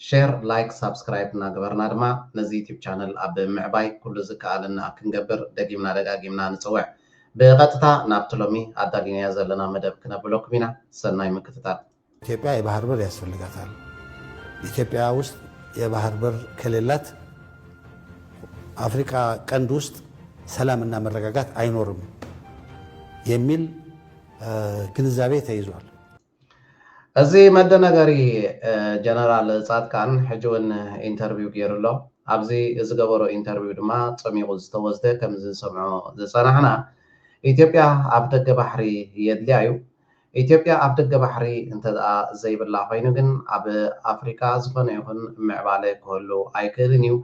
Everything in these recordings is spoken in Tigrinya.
ሼር ላይክ ሳብስክራይብ እናገበርና ድማ ነዚ ዩቱብ ቻነል ኣብ ምዕባይ ኩሉ ዝከኣለና ክንገብር ደጊምና ደጋጊምና ንፅውዕ። ብቐጥታ ናብቲ ሎሚ ኣዳሊናዮ ዘለና መደብ ክነብለኩም ኢና። ሰናይ ምክትታል። ኢትዮጵያ የባህር በር ያስፈልጋታል ኢትዮጵያ ውስጥ የባህር በር ከሌላት አፍሪካ ቀንድ ውስጥ ሰላምና መረጋጋት አይኖርም የሚል ግንዛቤ ተይዟል። እዚ መደናገሪ ጀነራል ጻድቃን ሕጂ ውን ኢንተርቪው ጌሩ ኣሎ ኣብዚ ዝገበሮ ኢንተርቪው ድማ ጸሚቁ ዝተወስደ ከምዚ ንሰምዖ ዝጸናሕና ኢትዮጵያ ኣፍ ደገ ባሕሪ የድልያ ዩ ኢትዮጵያ ኣፍ ደገ ባሕሪ እንተ ዘይብላ ኮይኑ ግን ኣብ ኣፍሪቃ ዝኮነ ይኩን ምዕባለ ክህሉ ኣይክእልን ዩ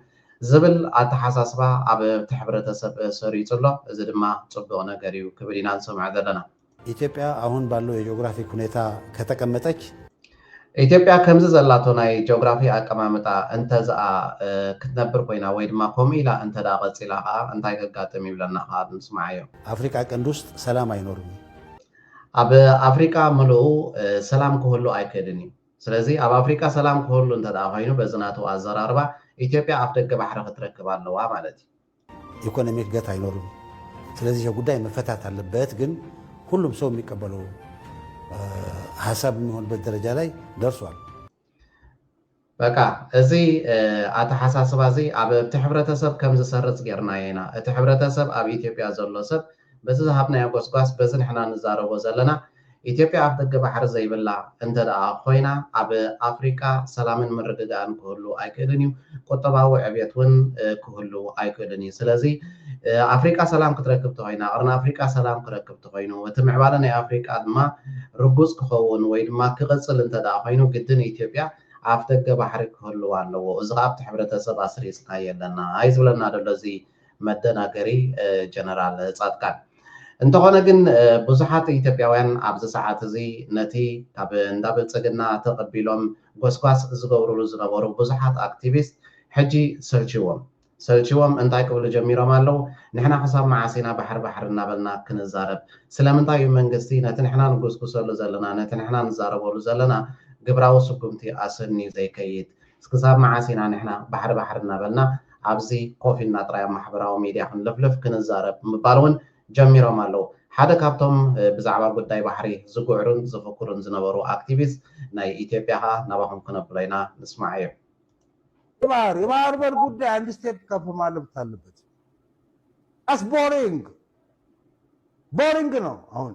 ዝብል ኣተሓሳስባ ኣብቲ ሕብረተሰብ ሰሪጹ ኣሎ እዚ ድማ ጽቡቅ ነገር ዩ ክብል ኢና ንሰምዖ ዘለና ኢትዮጵያ ኣሁን ባለው የጂኦግራፊክ ሁኔታ ከተቀመጠች። ኢትዮጵያ ከምዚ ዘላቶ ናይ ጂኦግራፊ ኣቀማምጣ እንተዝኣ ክትነብር ኮይና ወይ ድማ ከምኡ ኢላ እንተድኣ ቀጺላ ከኣ እንታይ ከጋጥም እዩ ብለና ከኣ ንስምዓዮ። ኣፍሪቃ ቀንዲ ውስጥ ሰላም ኣይኖርም እዩ። ኣብ ኣፍሪቃ ምሉኡ ሰላም ክህሉ ኣይክእልን እዩ። ስለዚ ኣብ ኣፍሪቃ ሰላም ክህሉ እንተድኣ ኮይኑ በዚ ናቱ ኣዘራርባ ኢትዮጵያ ኣፍደገ ባሕሪ ክትረክብ ኣለዋ ማለት እዩ። ኢኮኖሚ እድገት ኣይኖርም ስለዚህ ይሄ ጉዳይ መፈታት አለበት ግን ሁሉም ሰው የሚቀበለው ሀሳብ የሚሆንበት ደረጃ ላይ ደርሷል። በቃ እዚ ኣተሓሳስባ እዚ ኣብቲ ሕብረተሰብ ከም ዝሰርፅ ጌርናዮ ኢና እቲ ሕብረተሰብ ኣብ ኢትዮጵያ ዘሎ ሰብ በዚ ዝሃብናዮ ጎስጓስ በዚ ንሕና ንዛረቦ ዘለና ኢትዮጵያ ኣፍደገ ባሕሪ ዘይብላ እንተድኣ ኮይና ኣብ ኣፍሪቃ ሰላምን ምርግጋእን ክህሉ ኣይክእልን እዩ ቁጠባዊ ዕብየት እውን ክህሉ ኣይክእልን እዩ ስለዚ ኣፍሪቃ ሰላም ክትረክብ ተኮይና ቅርኒ ኣፍሪቃ ሰላም ክረክብ ተኮይኑ እቲ ምዕባለ ናይ ኣፍሪቃ ድማ ርጉጽ ክኸውን ወይ ድማ ክቕጽል እንተድኣ ኮይኑ ግድን ኢትዮጵያ ኣፍደገ ባሕሪ ክህልዋ ኣለዎ እዚ ከኣ ኣብቲ ሕብረተሰብ ኣስሪጽናዮ ኣለና እዩ ዝብለና ዘሎ እዚ መደናገሪ ጀነራል ጻድቃን። እንተኾነ ግን ብዙሓት ኢትዮጵያውያን ኣብዚ ሰዓት እዚ ነቲ ካብ እንዳ ብልጽግና ተቐቢሎም ጎስጓስ ዝገብሩሉ ዝነበሩ ብዙሓት ኣክቲቪስት ሕጂ ሰልቺዎም ሰልቺዎም እንታይ ክብሉ ጀሚሮም ኣለው ንሕና ክሳብ መዓስ ኢና ባሕሪ ባሕሪ እናበልና ክንዛረብ ስለምንታይ እዩ መንግስቲ ነቲ ንሕና ንጉስጉሰሉ ዘለና ነቲ ንሕና ንዛረበሉ ዘለና ግብራዊ ስጉምቲ ኣሰንዩ ዘይከይድ እስክሳብ መዓስ ኢና ንሕና ባሕሪ ባሕሪ እናበልና ኣብዚ ኮፍ ኢልና ጥራይ ኣብ ማሕበራዊ ሚድያ ክንልፍልፍ ክንዛረብ ምባል እውን ጀሚሮም ኣለው። ሓደ ካብቶም ብዛዕባ ጉዳይ ባሕሪ ዝግዕሩን ዝፍክሩን ዝነበሩ ኣክቲቪስት ናይ ኢትዮጵያ ከኣ ናባኹም ክነብሎ ኢና ንስማዓዮ። የባህር የባህር በር ጉዳይ አንድ ስቴፕ ከፍ ማለት አለበት። አስ ቦሪንግ ቦሪንግ ነው አሁን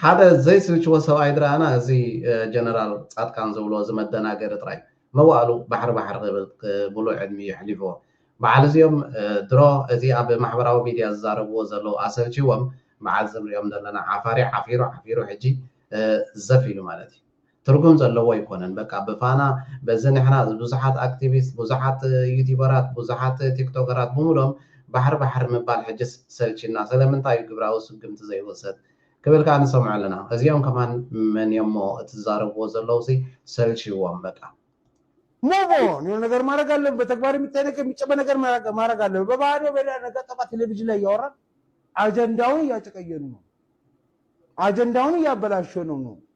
ሓደ ዘይስልችዎ ሰብኣይ ድራና እዚ ጀነራል ጻድቃን ዝብሎ እዚ መደናገሪ ጥራይ መዋእሉ ባሕሪ ባሕሪ ክብል ብሉዕ ዕድሚኡ የሕሊፍዎ በዓል እዚኦም ድሮ እዚ ኣብ ማሕበራዊ ሚድያ ዝዛረብዎ ዘለዉ ኣሰልቺዎም በዓል እዚ ንሪኦም ዘለና ዓፋሪ ዓፊሩ ዓፊሩ ሕጂ ዘፍ ኢሉ ማለት እዩ ትርጉም ዘለዎ ኣይኮነን በቃ ብፋና በዚ ንሕና ብዙሓት ኣክቲቪስት ብዙሓት ዩቲበራት ብዙሓት ቲክቶከራት ብሙሉኦም ባሕሪ ባሕሪ ምባል ሕጂስ ሰልቺና ሰለምንታይ እዩ ግብራዊ ስጉምቲ ዘይውሰድ ክብል ካኣ ንሰምዖ ኣለና እዚኦም ከማን መን እዮም እሞ እቲ ዝዛረብዎ ዘለውሲ ሰልቺዎም በቃ። Move on የሆነ ነገር ማረግ ኣለብን በተግባር የሚታይ ነገር የሚጨበ ነገር ማረግ ኣለብን በባዶ በሌላ ነገር ጠባ ቴሌቪዥን ላይ እያወራን አጀንዳውን እያጨቀየኑ ነው አጀንዳውን እያበላሸኑ ነው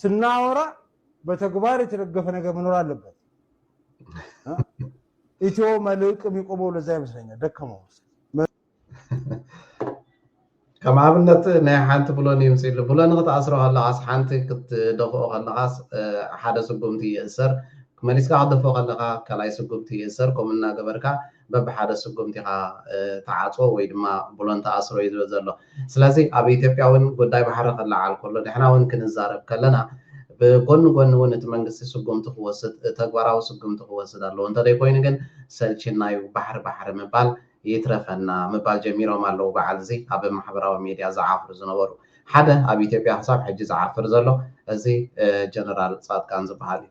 ስናወራ በተግባር የተደገፈ ነገር መኖር አለበት። ኢትዮ መልሕቅ የሚቆመው ለዛ ይመስለኛል። ደከመው ከም ኣብነት ናይ ሓንቲ ብሎን ይምፅሉ ብሎን ክትኣስሮ ከለኻስ ሓንቲ ክትደፍኦ ከለኻስ ሓደ ስጉምቲ ይእሰር መሊስካ ክትደፍኦ ከለካ ካልኣይ ስጉምቲ ይእሰር ከምኡ እናገበርካ በብሓደ ስጉምቲ ኢኻ ትዓጽዎ ወይ ድማ ብሎን ትኣስሮ እዩ ዝብል ዘሎ። ስለዚ ኣብ ኢትዮጵያ እውን ጉዳይ ባሕሪ ክለዓል ከሎ ንሕና እውን ክንዛረብ ከለና ብጎኒ ጎኒ እውን እቲ መንግስቲ ስጉምቲ ክወስድ ተግባራዊ ስጉምቲ ክወስድ ኣለዎ እንተዘይኮይኑ ግን ሰልቺና እዩ ባሕሪ ባሕሪ ምባል ይትረፈና ምባል ጀሚሮም ኣለዉ በዓል እዚ ኣብ ማሕበራዊ ሚድያ ዝዓፍሩ ዝነበሩ ሓደ ኣብ ኢትዮጵያ ክሳብ ሕጂ ዝዓፍር ዘሎ እዚ ጀነራል ጻድቃን ዝበሃል እዩ።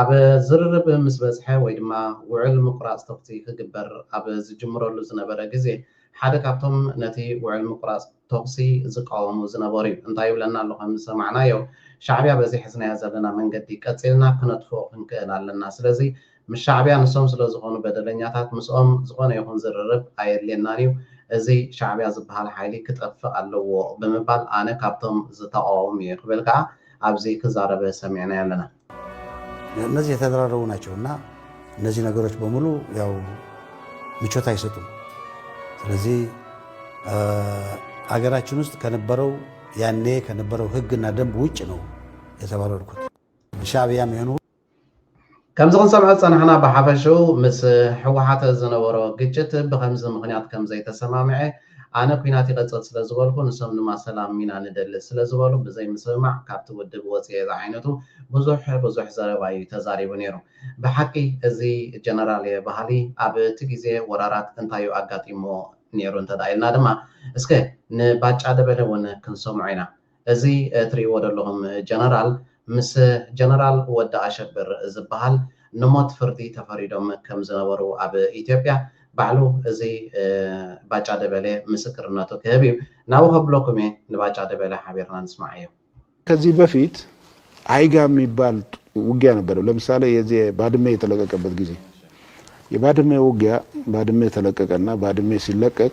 ኣብ ዝርርብ ምስ በጽሐ ወይ ድማ ውዕል ምቁራጽ ተኹሲ ክግበር ኣብ ዝጅምረሉ ዝነበረ ግዜ ሓደ ካብቶም ነቲ ውዕል ምቁራጽ ተኹሲ ዝቃወሙ ዝነበሩ'ዩ። እንታይ ይብለና ኣሎ ከም ዝሰማዕናዮ ሻዕብያ በዚ ሕዝናዮ ዘለና መንገዲ ቀጺልና ክነጥፍኦ ክንክእል ኣለና ስለዚ ምስ ሻዕብያ ንሶም ስለ ዝኾኑ በደለኛታት ምስኦም ዝኾነ ይኹን ዝርርብ ኣየድልየናን እዩ እዚ ሻዕብያ ዝብሃል ሓይሊ ክጠፍእ ኣለዎ ብምባል ኣነ ካብቶም ዝተቓወም እየ ክብል ከኣ ኣብዚ ክዛረበ ሰሚዕናዮ ኣለና። እነዚህ የተደራረቡ ናቸው እና እነዚህ ነገሮች በሙሉ ያው ምቾት አይሰጡም። ስለዚህ አገራችን ውስጥ ከነበረው ያኔ ከነበረው ህግና ደንብ ውጭ ነው የተባረርኩት ሻዕቢያም የሆኑ ከምዚ ክንሰምዖ ዝጸናሕና ብሓፈሽኡ ምስ ህወሓት ዝነበሮ ግጭት ብኸምዚ ምኽንያት ከም ዘይተሰማምዔ ኣነ ኲናት ይቐጽል ስለ ዝበልኩ ንሶም ድማ ሰላም ኢና ንደሊ ስለ ዝበሉ ብዘይምስምማዕ ካብቲ ውድብ ወጺኤ ዝዓይነቱ ብዙሕ ብዙሕ ዘረባ እዩ ተዛሪቡ ነይሩ። ብሓቂ እዚ ጀነራል'የ በሃሊ ኣብቲ ግዜ ወራራት እንታይ እዩ ኣጋጢምዎ ነይሩ እንተድኣ ኢልና ድማ እስከ ንባጫ ደበለ እውን ክንሰምዖ ኢና። እዚ ትርእይዎ ደለኹም ጀነራል ምስ ጀነራል ወዲ ኣሸብር ዝብሃል ንሞት ፍርዲ ተፈሪዶም ከም ዝነበሩ ኣብ ኢትዮጵያ ባዕሉ እዚ ባጫ ደበሌ ምስክርነቱ ክህብ እዩ ናብኡ ከብለኩም እየ ንባጫ ደበሌ ሓቢርና ንስማዓዮ። ከዚህ በፊት አይጋ የሚባል ውጊያ ነበረ ለምሳሌ የዚህ ባድሜ የተለቀቀበት ጊዜ የባድሜ ውጊያ ባድሜ ተለቀቀና ባድሜ ሲለቀቅ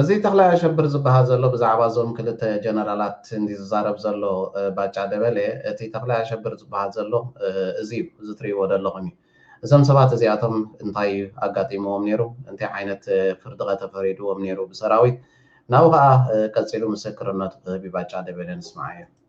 እዚ ተኽላይ ኣሸብር ዝብሃል ዘሎ ብዛዕባ እዞም ክልተ ጀነራላት እንድዩ ዝዛረብ ዘሎ ባጫ ደበሌ እቲ ተኽላይ ኣሸብር ዝብሃል ዘሎ እዚ እዩ እዚ ትሪእዎ ደለኹም እዩ እዞም ሰባት እዚኣቶም እንታይ እዩ ኣጋጢምዎም ነይሩ እንታይ ዓይነት ፍርዲኸ ተፈሪድዎም ነይሩ ብሰራዊት ናብኡ ከኣ ቀጺሉ ምስክርነቱ ክህብ እዩ ባጫ ደበሌ ንስምዓዮ።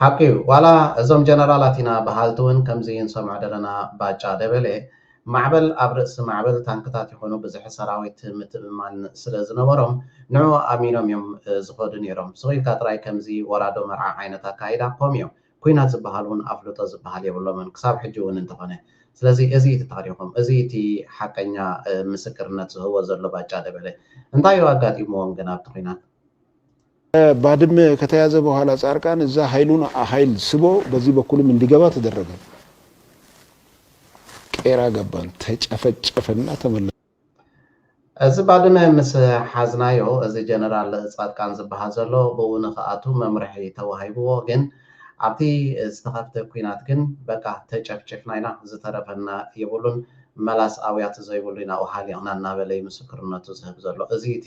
ሓቂ እዩ ዋላ እዞም ጀነራላት ኢና በሃልቲ ውን ከምዚ ንሰምዖ ደለና ባጫ ደበሌ ማዕበል ኣብ ርእሲ ማዕበል ታንክታት ይኹኑ ብዝሒ ሰራዊት ምትእምማን ስለ ዝነበሮም ንዑኡ ኣሚኖም እዮም ዝኸዱ ኔሮም ስቕ ኢልካ ጥራይ ከምዚ ወራዶ መርዓ ዓይነት ኣካይዳ ኮምዮ ኩናት ዝብሃል ውን ኣፍልጦ ዝብሃል የብሎምን ክሳብ ሕጂ ውን እንተኾነ ስለዚ እዚ እዩ እቲ ታሪኾም እዚ እዩ እቲ ሓቀኛ ምስክርነት ዝህቦ ዘሎ ባጫ ደበሌ እንታይ እዩ ኣጋጢምዎም ግን ኣብቲ ኩናት ባድመ ከተያዘ በኋላ ጻርቃን እዛ ሀይሉን ሀይል ስቦ በዚ በኩልም እንዲገባ ተደረገ። ቄራ ገባን ተጨፈጨፈና ተመለስና። እዚ ባድመ ምስ ሓዝናዮ እዚ ጀነራል ጻድቃን ዝብሃል ዘሎ ብኡ ንክኣቱ መምርሒ ተዋሂብዎ ግን ኣብቲ ዝተኸፍተ ኩናት ግን በቃ ተጨፍጪፍና ኢና ዝተረፈና የብሉን መላስ ኣውያት ዘይብሉ ኢና ውሃሊቕና እናበለ እዩ ምስክርነቱ ዝህብ ዘሎ እዚ እቲ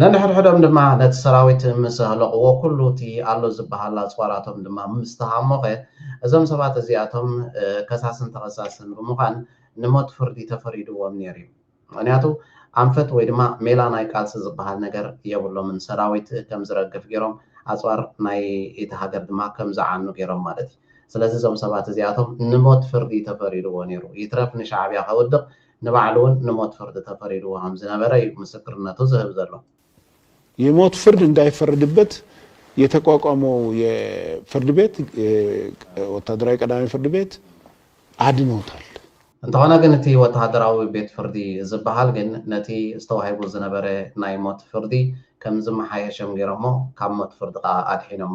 ነንሕድሕዶም ድማ ነቲ ሰራዊት ምስ ኣህለቕዎ ኩሉ እቲ ኣሎ ዝበሃል ኣጽዋራቶም ድማ ምስ ተሃሞኸ እዞም ሰባት እዚኣቶም ከሳስን ተኸሳስን ብምዃን ንሞት ፍርዲ ተፈሪድዎም ነይሩ እዩ። ምኽንያቱ ኣንፈት ወይ ድማ ሜላ ናይ ቃልሲ ዝበሃል ነገር የብሎምን። ሰራዊት ከም ዝረግፍ ገይሮም ኣጽዋር ናይ እቲ ሃገር ድማ ከም ዝዓኑ ገይሮም ማለት እዩ። ስለዚ እዞም ሰባት እዚኣቶም ንሞት ፍርዲ ተፈሪድዎ ነይሩ። ይትረፍ ንሻዕብያ ከውድቕ ንባዕሉ'ውን ንሞት ፍርዲ ተፈሪድዎ ከም ዝነበረ'ዩ ምስክርነቱ ዝህብ ዘሎ። የሞት ፍርድ እንዳይፈረድበት የተቋቋመው የፍርድ ቤት ወታደራዊ ቀዳማይ ፍርድ ቤት ኣድኖታል። እንተኾነ ግን እቲ ወተሃደራዊ ቤት ፍርዲ ዝበሃል ግን ነቲ ዝተዋሂቡ ዝነበረ ናይ ሞት ፍርዲ ከም ዝመሓየሸም ገይሮሞ ካብ ሞት ፍርዲ ከኣ ኣድሒኖሞ።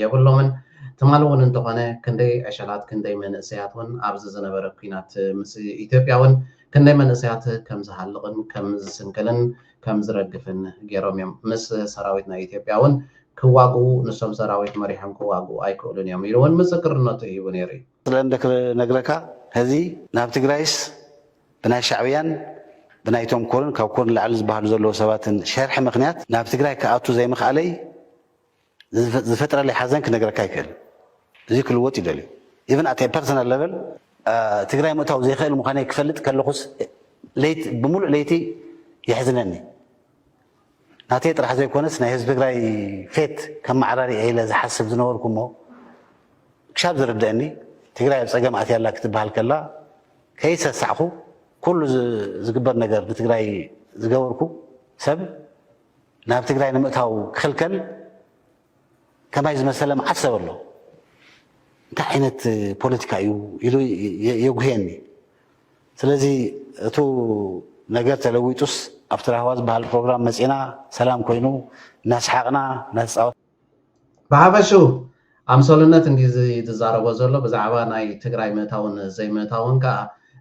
የብሎምን ትማሊ ውን እንተኾነ ክንደይ ዕሸላት ክንደይ መንእሰያት ውን ኣብዚ ዝነበረ ኩናት ምስ ኢትዮጵያ ውን ክንደይ መንእሰያት ከም ዝሃልቕን ከም ዝስንክልን ከም ዝረግፍን ጌሮም እዮም ምስ ሰራዊት ናይ ኢትዮጵያ ውን ክዋግኡ ንሶም ሰራዊት መሪሖም ክዋግኡ ኣይክእሉን እዮም ኢሉ ውን ምስክርነቱ ሂቡ ኔሩ እዩ። ስለ እንደ ክነግረካ ሀዚ ናብ ትግራይስ ብናይ ሻዕብያን ብናይ ቶም ኮርን ካብ ኮር ንላዕሊ ዝባሃሉ ዘለዉ ሰባትን ሸርሒ ምክንያት ናብ ትግራይ ክኣቱ ዘይምክኣለይ ዝፈጥረለይ ሓዘን ክነግረካ ኣይክእልን እዙይ ክልወጥ እዩ ደልዩ ኢቨን ኣት ኤ ፐርሰናል ለቨል ትግራይ ምእታው ዘይክእል ምዃነይ ክፈልጥ ከለኹስ ለይቲ ብምሉእ ለይቲ የሕዝነኒ ናተይ ጥራሕ ዘይኮነስ ናይ ህዝቢ ትግራይ ፌት ከም ማዕራሪ ኢለ ዝሓስብ ዝነበርኩ እሞ ክሻብ ዝርደአኒ ትግራይ ኣብ ፀገም ኣትያ ኣላ ክትበሃል ከላ ከይሰሳዕኹ ኩሉ ዝግበር ነገር ንትግራይ ዝገበርኩ ሰብ ናብ ትግራይ ንምእታው ክኽልከል ከማይ ዝመሰለ መዓት ሰብ ኣሎ እንታይ ዓይነት ፖለቲካ እዩ ኢሉ የጉህየኒ ስለዚ እቱ ነገር ተለዊጡስ ኣብቲ ራህዋ ዝበሃል ፕሮግራም መፂና ሰላም ኮይኑ እናስሓቅና እናተፃወት ብሓፈሽኡ ኣምሰሉነት እንድዩ ዝዛረቦ ዘሎ ብዛዕባ ናይ ትግራይ ምእታውን ዘይምእታውን ከኣ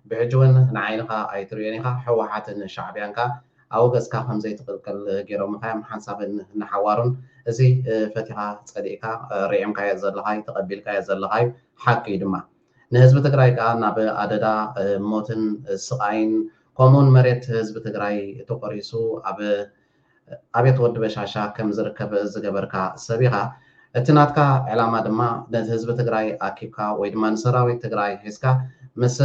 ብሕጂ ውን ንዓይንኻ ኣይትርእዮን ኢኻ ሕወሓትን ሻዕብያን ከኣ ኣብ ገጽካ ከምዘይትቅልቀል ጌሮምኻዮም ሓንሳብን ንሓዋሩን እዚ ፈቲኻ ጸሊእካ ሪዒምካዮ ዘለኻዩ ተቀቢልካዮ ዘለኻዩ ሓቂዩ ድማ ንህዝቢ ትግራይ ከኣ ናብ ኣደዳ ሞትን ስቃይን ከምኡውን መሬት ህዝቢ ትግራይ ተቆሪሱ ኣብ ኣቤት ወዲ በሻሻ ከምዝርከብ ዝገበርካ ሰብ ኢኻ እቲ ናትካ ዕላማ ድማ ነቲ ህዝቢ ትግራይ ኣኪብካ ወይ ድማ ንሰራዊት ትግራይ ሒዝካ ምስ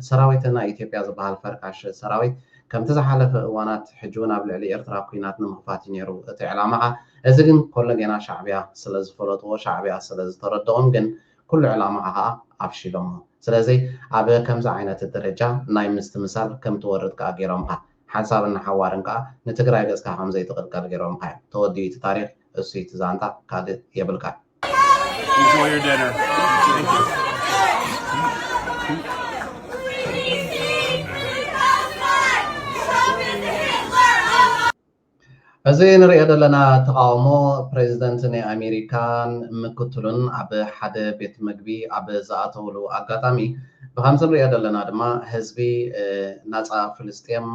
ሰራዊት ናይ ኢትዮጵያ ዝባሃል ፈርካሽ ሰራዊት ከምቲ ዝሓለፈ እዋናት ሕጂ ውን ኣብ ልዕሊ ኤርትራ ኩናት ንምኽፋት እዩ ኔሩ እቲ ዕላማኻ እዚ ግን ኮሎ ጌና ሻዕቢያ ስለ ዝፈለጥዎ ሻዕቢያ ስለ ዝተረድኦም ግን ኩሉ ዕላማኻ ኸኣ ኣፍሺሎሞ ስለዚ ኣብ ከምዚ ዓይነት ደረጃ ናይ ምስትምሳል ከምትወርድ ከኣ ጌሮምኻ ሓንሳብን ንሓዋርን ከኣ ንትግራይ ገጽካ ከም ዘይትቅልቀል ጌሮምኻ እዮም። ተወዲኡ እቲ ታሪኽ እሱይ እቲ ዛንታ ካልእ የብልካን። Enjoy your dinner. Thank you. እዚ ንርእዮ ዘለና ተቓውሞ ፕሬዚደንት ናይ ኣሜሪካን ምክትሉን ኣብ ሓደ ቤት ምግቢ ኣብ ዝኣተውሉ ኣጋጣሚ ብኸምዚ ንርእዮ ዘለና ድማ ህዝቢ ናጻ ፍልስጤም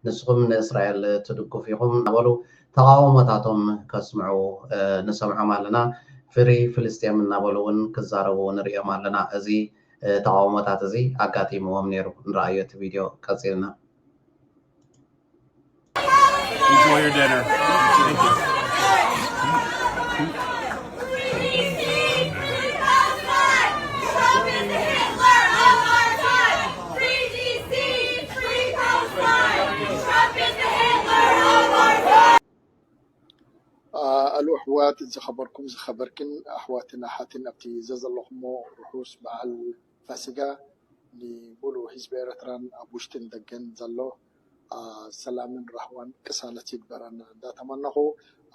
ንስኹም ንእስራኤል ትድግፉ ኢኹም እናበሉ ተቓውሞታቶም ከስምዑ ንሰምዖም ኣለና። ፍሪ ፍልስጤም እናበሉ እውን ክዛረቡ ንርእዮም ኣለና። እዚ ተቓውሞታት እዚ ኣጋጢምዎም ነይሩ። ንርኣዮ እቲ ቪድዮ ቀጺልና። Enjoy your dinner. Thank you. ኣሉ ኣሕዋት ዝኸበርኩም ዝኸበርክን ኣሕዋትን ኣሓትን ኣብቲ ዘዘለኹሞ ርሑስ በዓል ፋሲጋ ንሙሉኡ ህዝቢ ኤረትራን ኣብ ውሽጥን ደገን ዘሎ ሰላምን ራህዋን ቅሳነት ይግበረና እንዳ ተመነኹ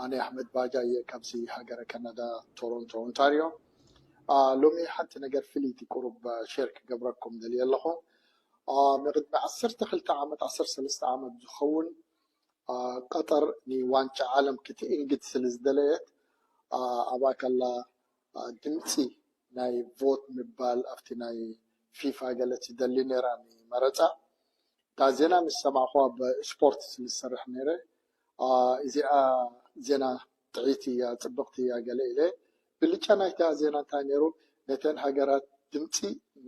ኣነ ኣህመድ ባጃ እየ ካብዚ ሃገረ ከናዳ ቶሮንቶ ኦንታርዮ ሎሚ ሓንቲ ነገር ፍልይቲ ቁሩብ ሼር ክገብረኩም ደልየ ኣለኹ ንቅድሚ ዓሰርተ ክልተ ዓመት ዓሰርተ ሰለስተ ዓመት ዝኸውን ቀጠር ንዋንጫ ዓለም ክትእንግድ ስለ ዝደለየት ኣብኣ ከላ ድምጺ ናይ ቮት ምባል ኣብቲ ናይ ፊፋ ገለ ትደሊ ነራ ንመረጻ እታ ዜና ምስ ሰማዕኩ ኣብ ስፖርት ስለ ዝሰርሕ ነረ እዚኣ ዜና ጥዕይቲ እያ ጽብቕቲ እያ ገለ ኢለ ብልጫ ናይታ ዜና እንታይ ነሩ ነተን ሃገራት ድምጺ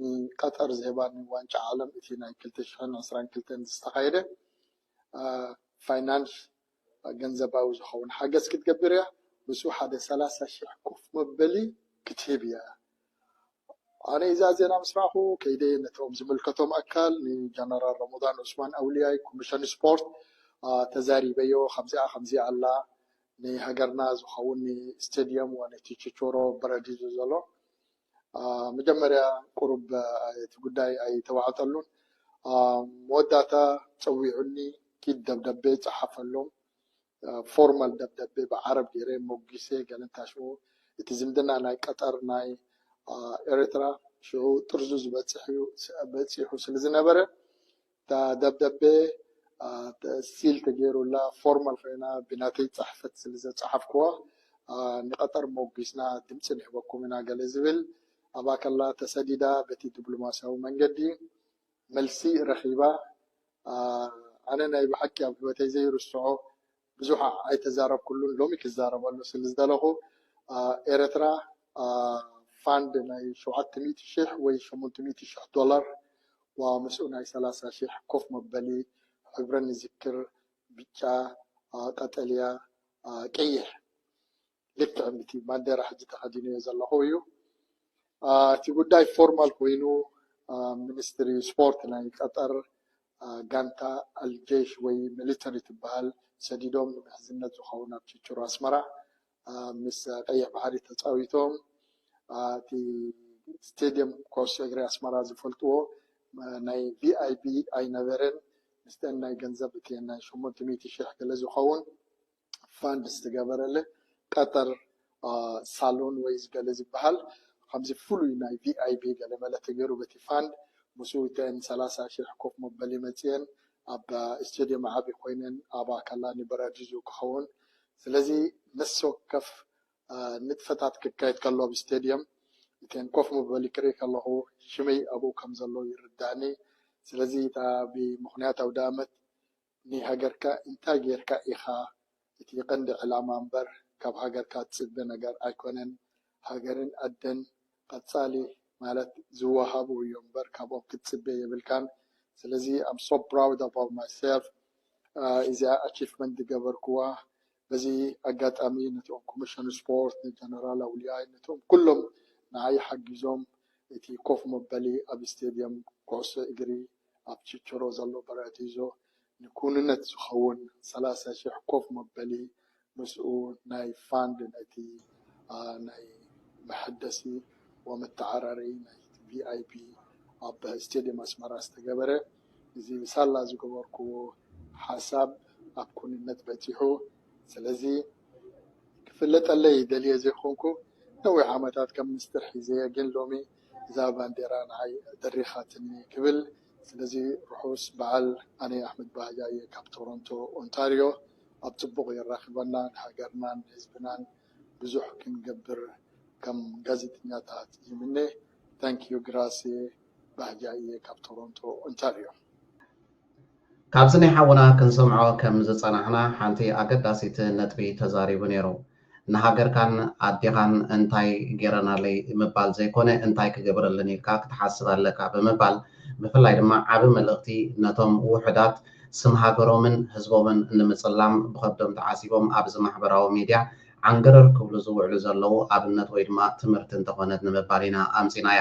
ንቀጠር ዝህባ ንዋንጫ ዓለም እቲ ናይ ክልተ ሽሕን ዕስራን ክልተን ዝተኻየደ ፋይናንስ ገንዘባዊ ዝኸውን ሓገዝ ክትገብር እያ። ምስኡ ሓደ ሰላሳ ሽሕ ኮፍ መበሊ ክትህብ እያ። ኣነ እዛ ዜና ምስ ረኣኹ ከይደ ነቶም ዝምልከቶም ኣካል ንጀነራል ረመዳን ዑስማን ኣውልያይ ኮሚሽን ስፖርት ተዛሪበዮ ከምዚኣ ከምዚ ኣላ ንሃገርና ዝኸውን ስቴድየም ወነቲ ችቾሮ በረዲዱ ዘሎ መጀመርያ ቁሩብ እቲ ጉዳይ ኣይተዋዕጠሉን መወዳእታ ፀዊዑኒ ኪድ ደብዳቤ ፀሓፈሎም ፎርማል ደብዳቤ ብዓረብ ገይረ ሞጊሰ ገለ እንታሽዎ እቲ ዝምድና ናይ ቀጠር ናይ ኤርትራ ሽዑ ጥርዙ ዝበፅሕ እዩ በፂሑ ስለ ዝነበረ እታ ደብደቤ ሲል ተገይሩላ ፎርማል ኮይና ብናተይ ፅሕፈት ስለ ዘፅሓፍኩዋ ንቀጠር ሞጒስና ድምፂ ንህበኩም ኢና ገለ ዝብል ኣብኣ ከላ ተሰዲዳ በቲ ድብሎማሲያዊ መንገዲ መልሲ ረኺባ። ኣነ ናይ ብሓቂ ኣብ ህይወተይ ዘይርስዖ ብዙሕ ኣይተዛረብኩሉን ሎሚ ክዛረበሉ ስል ዝደለኹ ኤረትራ ፋንድ ናይ ሸውዓተ ሚእቲ ሽሕ ወይ ሸሞንተ ሚእቲ ሽሕ ዶላር ዋ ምስኡ ናይ ሰላሳ ሽሕ ኮፍ መበሊ ሕብረን ንዝክር ብጫ ቀጠልያ ቀይሕ ልክዕ ንቲ ባንዴራ ሕጂ ተኸዲነዮ ዘለኹ እዩ። እቲ ጉዳይ ፎርማል ኮይኑ ሚኒስትሪ ስፖርት ናይ ቀጠር ጋንታ ኣልጀሽ ወይ ሚሊተሪ ትበሃል ሰዲዶም ንምሕዝነት ዝኸውን ኣብ ችችሮ ኣስመራ ምስ ቀይሕ ባሕሪ ተፃዊቶም እቲ ስቴድየም ኮስ እግሪ ኣስመራ ዝፈልጥዎ ናይ ቪኣይቢ ኣይነበረን ምስተን ናይ ገንዘብ እቲ ናይ ሸሞንተ ሚእቲ ሽሕ ገለ ዝኸውን ፋንድ ዝተገበረለ ጠጠር ሳሎን ወይ ገለ ዝበሃል ከምዚ ፍሉይ ናይ ቪኣይቢ ገለመለ ተገይሩ በቲ ፋንድ ምስኡ እተን ሰላሳ ሽሕ ኮፍ መበሊ መጺኤን ኣብ እስቴድየም ዓቢ ኮይነን ኣብኣ ከላ ንበራዲዙ ክኸውን ስለዚ ነፍሲ ወከፍ ንጥፈታት ክካየድ ከሎ ኣብ እስቴድየም እተን ኮፍ መበሊ ክርኢ ከለኹ ሽመይ ኣብኡ ከም ዘሎ ይርዳእኒ ስለዚ እታ ብምኽንያት ኣውደኣመት ንሃገርካ ኢንታይ ጌርካ ኢኻ እቲ ቀንዲ ዕላማ እምበር ካብ ሃገርካ ትጽበ ነገር ኣይኮነን ሃገርን ኣደን ቀጻሊ ማለት ዝዋሃቡ እዮም እምበር ካብኦም ክትጽበ የብልካን ስለዚ ኣም ሶ ፕራውድ ኣባውት ማይ ሰልፍ ኢዚኣ ኣቺፍመንት ዝገበርኩዋ በዚ ኣጋጣሚ ነቶም ኮሚሽን ስፖርት፣ ንጀነራል ኣውልያይ፣ ነቶም ኩሎም ንዓይ ሓጊዞም፣ እቲ ኮፍ መበሊ ኣብ ስቴድየም ኩዕሶ እግሪ ኣብ ቺችሮ ዘሎ በራዲዞ ንክውንነት ዝኸውን ሰላሳ ሽሕ ኮፍ መበሊ ምስኡ ናይ ፋንድ ነቲ ናይ መሐደሲ ወመተዓራረዪ ናይቲ ቪኣይፒ ኣብ ስቴድየም ኣስመራ ዝተገበረ እዚ ብሳላ ዝገበርኩዎ ሓሳብ ኣብ ክውንነት በጺሑ። ስለዚ ክፍለጠለይ ደልየ ዘይኮንኩ ነዊሕ ዓመታት ከም ምስጢር ሒዘዮ ግን ሎሚ እዛ ባንዴራ ንዓይ ደሪኻትኒ ክብል። ስለዚ ርሑስ በዓል ኣነ ኣሕመድ ባህጃ እየ ካብ ቶሮንቶ ኦንታርዮ ኣብ ጽቡቕ የራኽበና ንሃገርናን ንህዝብናን ብዙሕ ክንገብር ከም ጋዜጠኛታት ይምነ Thank you Grazie። ባህጊ ኣየ ካብ ቶሮንቶ ኦንታርዮ። ካብዚ ናይ ሓውና ክንሰምዖ ከም ዝጸናሕና ሓንቲ ኣገዳሲት ነጥቢ ተዛሪቡ ኔሩ ንሃገርካን ኣዴኻን እንታይ ጌረናለይ ምባል ዘይኮነ እንታይ ክገብረለን ኢልካ ክትሓስብ ኣለካ ብምባል ብፍላይ ድማ ዓቢ መልእኽቲ ነቶም ውሑዳት ስም ሃገሮምን ህዝቦምን ንምጽላም ብኸብዶም ተዓሲቦም ኣብዚ ማሕበራዊ ሚድያ ዓንገረር ክብሉ ዝውዕሉ ዘለዉ ኣብነት ወይ ድማ ትምህርቲ እንተኾነት ንምባል ኢና ኣምጺናያ።